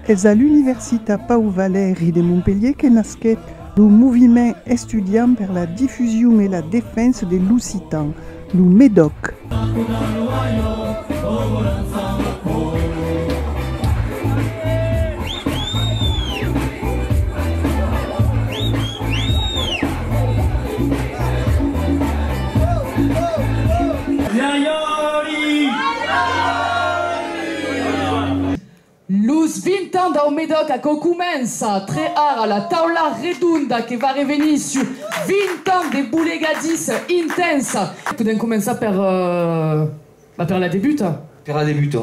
Es a l'Universitat Pau Valeri de Montpelhier que nasquèt lo moviment estudiant per la difusion e la defensa de l'occitan, lo MEDOC. Los 20 ans dau Medòc aquò comença tre ara, la taula redonda que va revenir sus 20 ans de bolegadissa intensa. Podèm començar per la debuta. Per la debuta.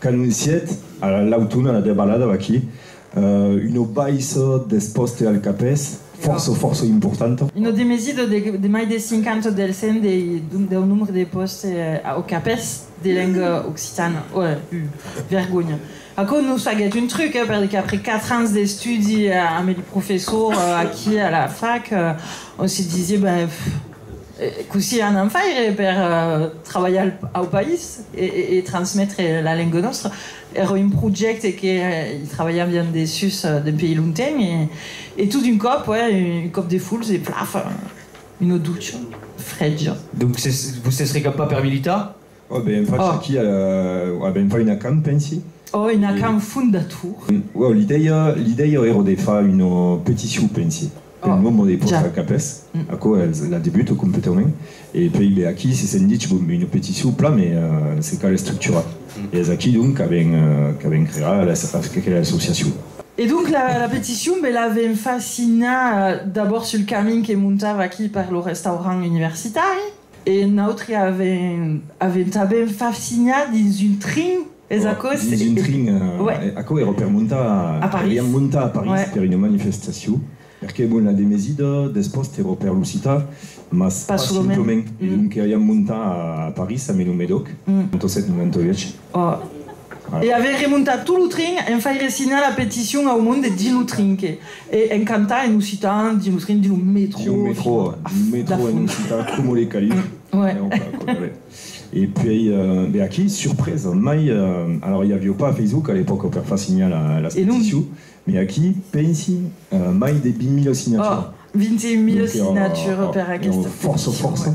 Qu'anoncièt ara l'autuna la debalada vaquí, una baissa deth pòste al Capès fòrça, fòrça importanta. Una demesida de mai deth 50 del cent deu nombre de pòste au Capès de lenga occitana. Ua vergonha. Aquò nos faguèt un truc, eh, perque après quatre ans d'estudi ambe li professors aquí a la fac, on se disie, ben, Cossí anan faire per trabalhar au país e transmetre la lenga nòstra? Èra un projècte que i trabalhaviam dessus dempèi longtemps e tot d'un còp, uèi, un còp de fulhs e plaf! Una ducha frèja. Donc vos sètz recampat per militar? Ò ben fach aquí a la. Ò ben fach una can, pensi. Ò una can fondatur. Ò l'idèia, l'idèia èra de fach una peticion, pensi, pel nombre de pòrta capes. Aquò es la debut completament. E puèi ben aquí se sèn dich, bon, una peticion plan, me se cal estructurar. E es aquí donc qu'a ben, qu'a ben crear aquela associacion. E donc la peticion ben la vem fach signar d'abòrd sul camin que montava aquí per lo restaurant universitari. E nautri avèm tanben fafsinhat dins un trin, es aquò? Dins un trin, aquò èra per montar a París. Aviam montat a París per una manifestacion, perqué bon la demesida despòst èra per lo citar, mas pas simplement. E donc aviam montat a París, a Menomedòc, 97-98. E avèr remontat tot lo trin en faire signar la peticion au monde dins lo trin que e en cantar en occitan dins lo trin dins lo metro. Dins lo metro, lo metro en occitan coma li calic. E puèi be aquí, surpresa, mai alors i avió pas Facebook a l'epòca per far signar las peticions, mai aquí, pensi, mai de 20.000 signatures. 21.000 signatures per aquesta peticion. Fòrça, fòrça.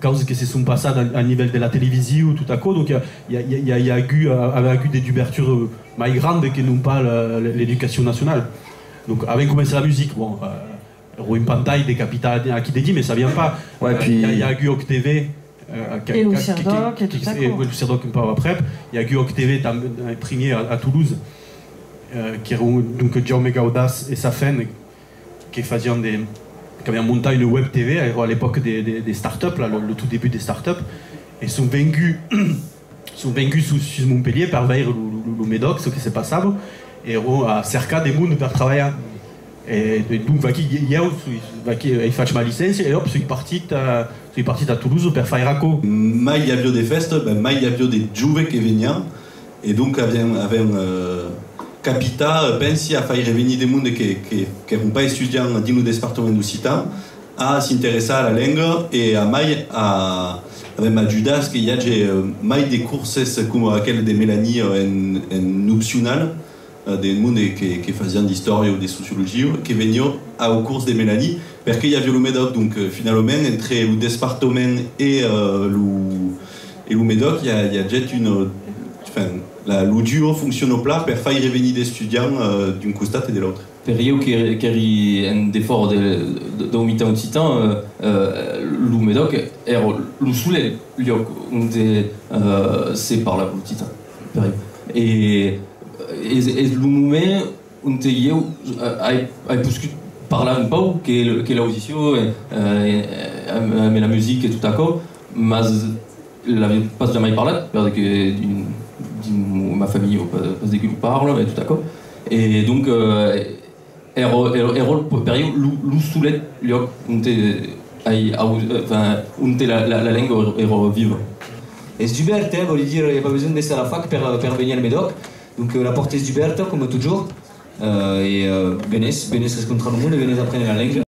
causas que se son passat a nivèl de la televisiu tot aquò, donc i a agut avè agut de dubertura mai granda que non pas l'educacion nacionala. Donc avèm començat la musica, bon, ro un pantalh decapitat aquí dedí, me sabiam pas, i a agut Òc TV, e lo Serdòc e tot aquò, lo Serdòc un pauc aprèp, i a agut Òc TV primièr a Toulouse, qu'èra donc Jaume Gaudàs e sa fèm, que fasián de, qu'avián montat une web TV aero à l'epoque de des start-up là, le tout début des start-up e son venguts son venguts sus sus Montpellier per veire lo lo Médoc ce que se passava aero a cercar de monde per trabalhar e donc vaquí ieu soi vaquí ei fach ma licéncia e òp soi partit soi partit a Toulouse per faire aquò. Mai i avió de fèsta, ben mai i avió de jove que venián E donc avèm avèm capita, pensi, a faire venir de monde que que qu'èron pas estudiants dins lo despartament occitan a s'interessar a la lenga e a mai a avèm ajudas que i age mai de curses coma aquel de Melanie en en opcional, de monde que fasián d'istòria o de sociologia o que venión au cors de Melanie, perqué i avia lo Medòc. Donc, finalament, entre lo despartament e lo Medòc i a jet una, enfin, lo duo fonciona plan per faire venir d'estudiants d'un costat e de l'autre. Per ieu qu'èri en defòra dau mitan occitan, lo Medòc èra lo solelh liòc onde se parlava l'occitan. Es lo moment onte ieu ai poscut parlar un pauc que l'audició e la musica e tot aquò, mas l'avia pas jamai parlat per que dins ma familha pas de que lo parla e tot aquò e donc Ero per ieu lo solet lhòc onte ai auut, enfin, onte la lenga ero viva. Es dubèrta, vòli dire, i a pas besonh d'èsser a la fac per venir al Medoc, donc la pòrta es dubèrta coma totjorn, e venètz, venètz rescontrar lo monde, venètz aprene la lenga.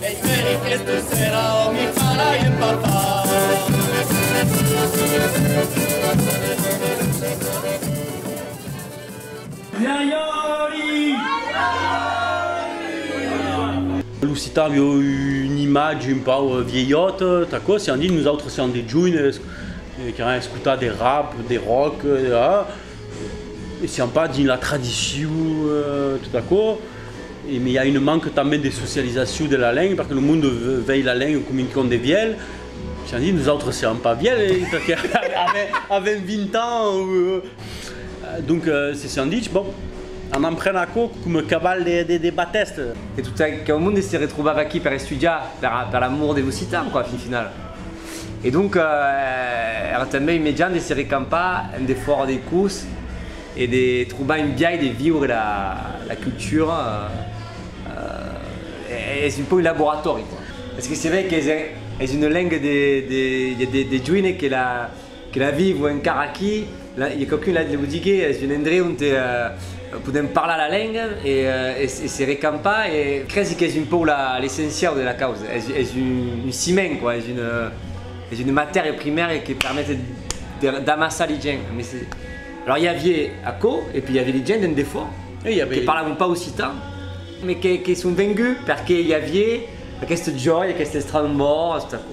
Esperi que tu sera o mi farai empapar. Lo citar aviá una imatge un pauc vielhòta, t'aquò sián dit, nosautres sián de joines qu'an escotat de rap, de rock, E siam pas dins la tradicion tot aquò, e i a un manque tanben de socializacion de la lenga, perque lo monde vei la lenga coma un con de vièlh, siam dit, nosautres siam pas vièlh, perque avèm 20 ans, donc se siam ditz, bon, anam prene aquò coma caval de batèsta. E tot aquò monde se retrobava aquí per estudiar, per l'amor de l'occitan, quoi, fin final. E donc èra tanben un mejan de se recampar en defòra dei cors e de trobar un biais de viure la cultura, es un pòc un laboratòri, esque se vei qu'es una lenga de joine que la. Que la vivo encara aquí, i quauqu'un la lo digué, es un endreu onte podèm parlar la lenga e se recampar e cresi qu'es un pauc l'essenciau de la causa, es un ciment quoi, es una matèria primèria que permet d'amassar li gent, alors i avié aquò e pui i avié li gent d'en defò que parlavan pas occitan mais que son venguts perque i avié aquest jòi, aquest estrambòr, tot aquò.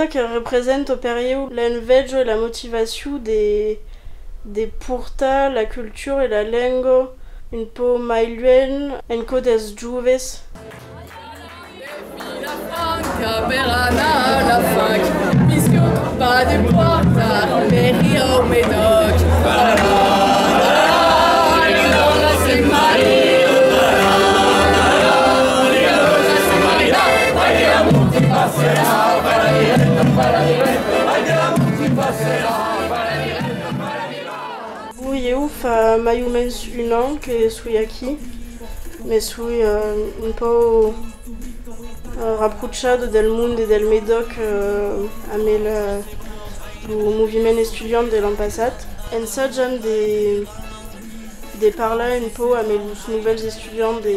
Çò que representa per ieu l'enveja e la motivacion de de portar la cultura e la lenga un pauc mai luènh enco dels joves. Ui eu fa mai o mens un an que soi aquí, me soi un pauc raprochat del monde e del Medoc amb lo moviment estudiant de l'an passat. Ensajam de parlar un pauc amb los novèls estudiants de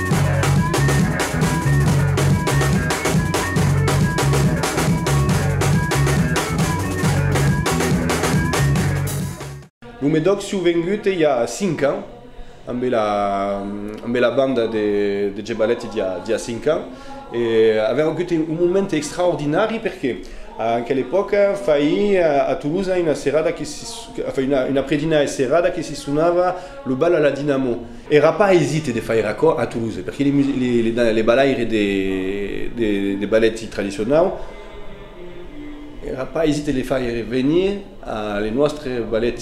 Lo Medoc s'iu vengut i a 5 ans, ambe la ambe la banda de de Gebalèti d'i a d'i a 5 ans e avèm agut un moment extraordinari perqué en quel epòca faii a Toulouse una serada que si, enfin una una predina e serada que si sonava lo bal a la dinamo. Èra pas aisit de faire aquò a Toulouse, perque le balaire de ballet tradicionau èra pas aisit de le faire venir a le nòstre ballet.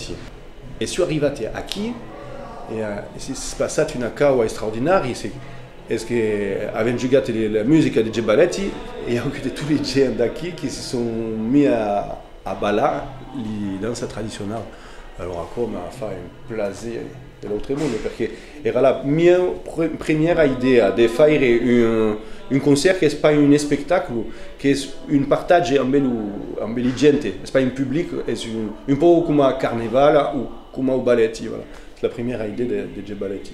E soi arrivat aquí e s'es passat una cau extraordinària, es que avèm jogat la musica deth ballet, i a auut de tot es gents d'aquí que se son mis a ballar li dança tradicionau. Alòra aquò m'a fait un plaser! De l'autre monde perque era la mia premiera idèa de faire un concèrt qu'es pas un espectacle qu'es un partatge ambe lo ambe li gente es pas un public es un un pauc coma carneval o coma o balèti voilà es la premiera idèa de de de balèti.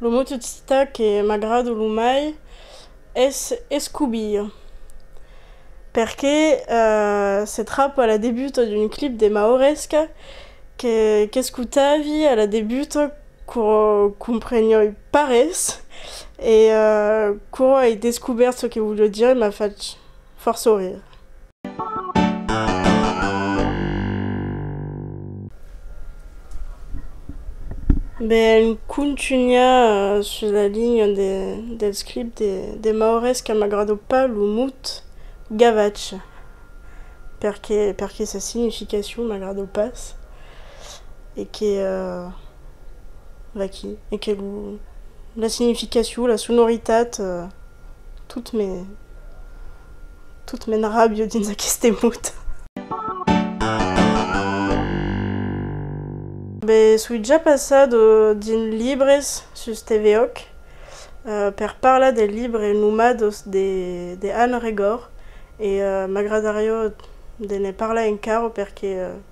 Lo mot occitan que m'agrada lo mai es escobir, perque se trap a la debuta d'un clip de Maoresca que qu'escotavi a la debuta Quò comprenoi pas res e quò ai descubèrt çò que volió dire e m'a fach fòrt sorrir. Ben contunhar sus la linha del script de Maures que m'agrado pas lo mot gavatch perque sa significacion m'agrado pas. E que vaquí. E que la significacion, la sonoritat, tot me. Tot m'enrabio dins aqueste mot. Be soi ja passat dins libres sus TVOC per parlar del libre Nomados de Anne Regor e m'agradarió de ne parlar encara perque